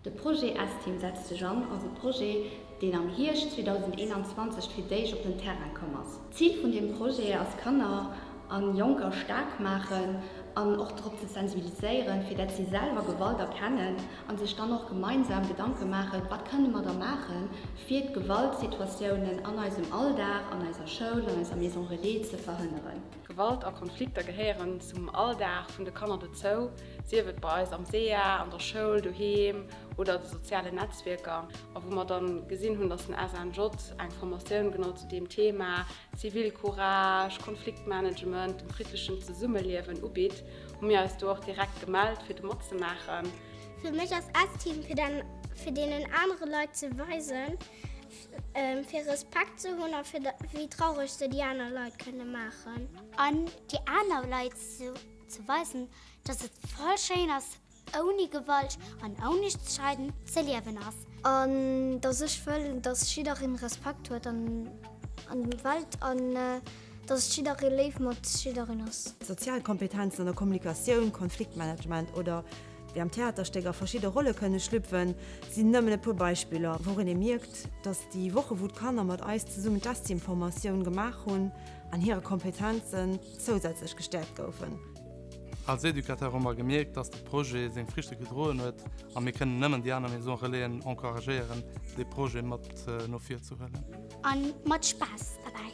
De Projet S-Team setzt sech an ass e Projet, deen am Hierscht 2021 fir d'éischt op den Terrain komm ass. D'Zil vun deem Projet ass Kanner a Jonker staark maachen an och drop ze sensibiliséieren, fir dat si selwer Gewalt erkennen a sech dann och gemeinsam Gedanke maachen, wat kënne mer da maachen, fir d'Gewaltsituatiounen an eisem Alldag, an eiser Schoul, an eiser Maison Relais ze verhënneren. Gewalt a Konflikter gehéieren zum Alldag vun de Kanner dozou, sief et bei eis am sea, an der Schoul, doheem oder a de sozialen Netzwierker. A wou mer dann gesinn hunn, dass den SNJ eng Formatioun genau zu deem Thema, Zivilcourage, Konfliktmanagement, dem friddlechen Zesummeliewen, ubitt, hu mir eis do och direkt gemellt fir do matzemaachen. Fir mech ass S-Team fir deenen anere Leit ze weisen, Fir Respekt ze hunn a fir wéi traureg se déi aner Leit kënne maachen. An déi aner Leit ze weisen, dass et voll schéin ass, ouni Gewalt an ouni Streiden ze liewen ass. An dass ech wëll, dass jiddereen Respekt huet an der Welt an dass jidderee léif mat jiddereen ass. Sozial Kompetenzen an der Kommunikatioun, Konfliktmanagement oder Wéi am Theaterstéck a verschidde Rolle kënne schlüpfen, sinn nëmmen e puer Beispiller, wourun ee mierkt, datt déi Woche wou d'Kanner mat eis zesummen d'Estime-Formatioun gemaach hunn, an hire Kompetenzen zousätzlech gestäerkt goufen. Als Educateur hu mer gemierkt, datt de Projet seng Friichte gedroen huet, a mir kënnen nëmmen déi aner Maison Relaisen encouragéieren, dee Projet mat no vir ze huelen. A mat Spaass derbäi.